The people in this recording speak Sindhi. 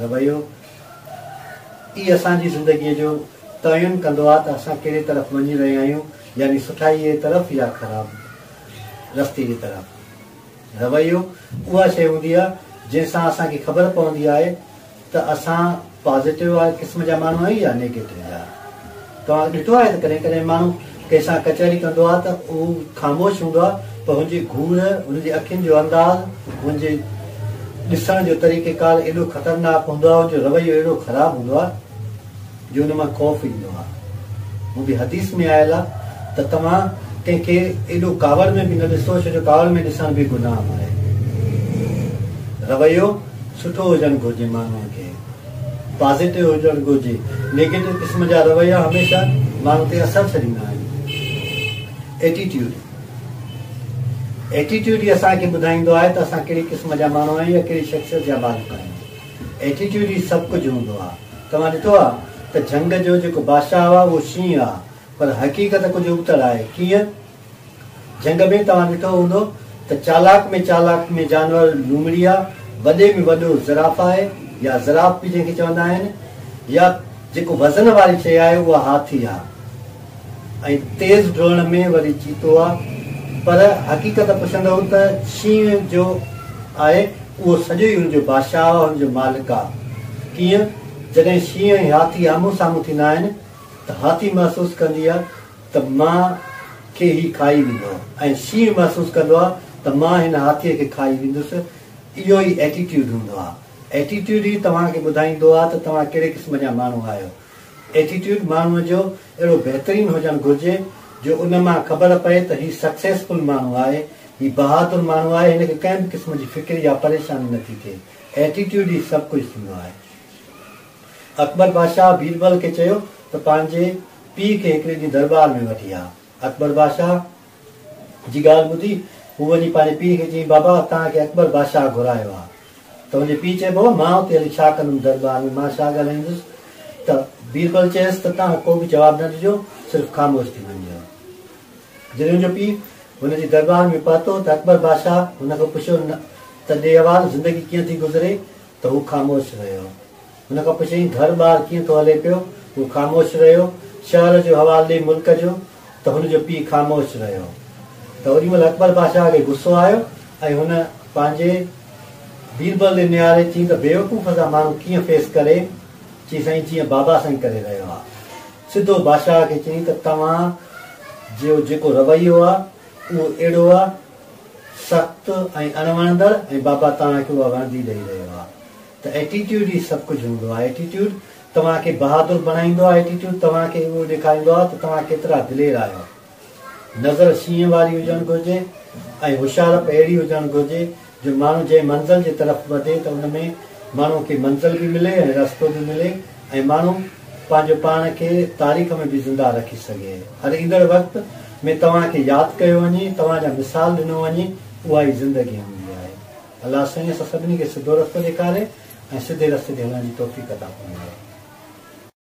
رويو ئي اسان جي زندگيء جو تعين ڪندو آهي ته اسان ڪهڙي طرف وڃي رهيا آهيون يعني سٺائيء جي طرف يا خراب رستي جي طرف. رويو اها شيء هوندي آهي جنهن سان اسان کي خبر پوندي آهي ته اسان پازيٽو قسم جا ماڻهو آهيون يا نيگيٽو جا. توهان ڏٺو آهي ته ڪڏهن ڪڏهن ماڻهو ڪنهن سان ڪچهري ڪندو آهي ته هو خاموش هوندو آهي پر هن جي گهور، هن جي اکين جو انداز، هن جي ڏسڻ جو طريقيڪار ايڏو خطرناڪ هوندو آهي، هن جو رويو اهڙو خراب هوندو آهي جو ان مان خوف ايندو آهي. هو به حديث ۾ آيل آهي ته توهان ڪنهن کي ايڏو ڪاوڙ ۾ به نه ڏسو ڇو جو ڪاوڙ ۾ ڏسڻ به گناهه آهي. رويو سٺو هجڻ گهرجي ماڻهوء کي. پازيٽو هجڻ گهرجي، نيگيٽو قسم جا رويا هميشه ماڻهو تي اثر ڇڏيندا آهن. ايٽيٽيوڊ، Attitude، ئي اسان کي ٻڌائيندو آهي ته اسان ڪهڙي قسم جا ماڻهو آهيون يا ڪهڙي شخصيت جا مالڪ آهيون. ايٽيٽيوڊ ئي سڀ ڪجهه هوندو آهي. توهان ڏٺو آهي ته جهنگ جو جيڪو بادشاهه آهي اهو شينهن آهي پر حقيقت ڪجهه ابتڙ آهي. ڪيئن؟ جهنگ ۾ توهان ڏٺو هوندو ته چالاڪ ۾ چالاڪ ۾ جانور لومڙيا، وڏي ۾ وڏو زراف آهي يا زراف به جنهن کي چوندا آهن يا جيڪو وزن واري شيء آهي اها هاٿي آهي ۽ تيز ڊوڙڻ ۾ وري چيتو آهي پر حقيقت پڇندؤ ته شينهن جو آهي اهو سڄو ئي ان جو بادشاهه آهي ان جو مالڪ آهي ڪيئن جڏهن شينهن ۽ هاٿي آمهون سامهون ٿيندا آهن ته هاٿي محسوس ڪندي آهي ته مان کي هي کائي ويندو ۽ شينهن محسوس ڪندو آهي ته مان هن هاٿيء کي کائي ويندس اهو ئي ائٽيٽيوڊ هوندو آهي ائٽيٽيوڊ ئي توهان کي ٻڌائيندو آهي ته توهان ڪهڙي قسم جا ماڻهو آهيو ائٽيٽيوڊ ماڻهوء جو اهڙو بهترين هجڻ گهرجي جو ان مان خبر پئي ته هي سڪسيسفل ماڻهو آهي هي بهادر ماڻهو آهي هن کي ڪنهن به قسم جي فڪر يا پريشاني نٿي ٿئي ائٽيٽيوڊ ئي سڀ ڪجهه ٿيندو آهي. اڪبر بادشاهه بيربل کي چيو ته پنهنجي پيء کي هڪڙي ڏينهن درٻار ۾ وٺي آ. اڪبر بادشاهه جي ڳالهه ٻڌي هو وڃي پنهنجي پيء کي چيائين بابا توهان کي اڪبر بادشاهه گهرايو آ. تنهنجي پيء چيو بابا مان اتي هلي ڇا ڪندم درٻار ۾ مان ڇا ڳالهائيندس ته بيربل چيس ته توهان ڪو به جواب نه ڏجو صرف خاموش ٿي وڃجو. جڏهن هن جو پيء هن جي درٻار ۾ پهتو ته اڪبر بادشاهه هن کان پڇيو ته ڏي حوال زندگي ڪيئن ٿي گذري ته هو خاموش رهيو. هن کان پڇيائين، گهر ٻار ڪيئن ٿو هلي پيو؟ هو خاموش رهيو. شهر جو حوال ڏي ملڪ جو ته هن جو پيء خاموش رهيو. ته اوڏي مهل اڪبر بادشاهه کي غصو آيو ۽ هن پنهنجي بيربل ڏي نهاري چيائين ته بيوقوف سان ماڻهو ڪيئن فيس ڪري؟ چي سائين جيئن بابا سائين ڪري رهيو آ. سڌو بادشاهه کي چيائين ته توهان جو جيڪو رويو آ اهو اهڙو آ. سخت ۽ اڻ وڻندڙ ۽ بابا توهان کي اها وڻندي ڏئي رهيو آ ته ائٽيٽيوڊ ئي سڀ ڪجهه هوندو آ ائٽيٽيوڊ توهان کي بهادر بڻائيندو آ ائٽيٽيوڊ توهان کي اهو ڏيکاريندو آ ته توهان ڪيترا دلير آهيو نظر شينهن واري هجڻ گهرجي ۽ هوشيارپ اهڙي هجڻ گهرجي جو ماڻهو جنهن منزل جي طرف وڌي ته ان ۾ ماڻهو کي منزل به ملي ۽ رستو به ملي ۽ ماڻهو پنهنجو پاڻ کي تاريخ ۾ به زنده رکي سگهي. هر ايندڙ وقت ۾ توهان کي ياد ڪيو وڃي، توهان جا مثال ڏنو وڃي، اها ئي زندگي هوندي آهي. الله سائين اسان سڀني کي سڌو رستو ڏيکاري ۽ سڌي رستي تي هلڻ جي توفيق عطا فرمائي.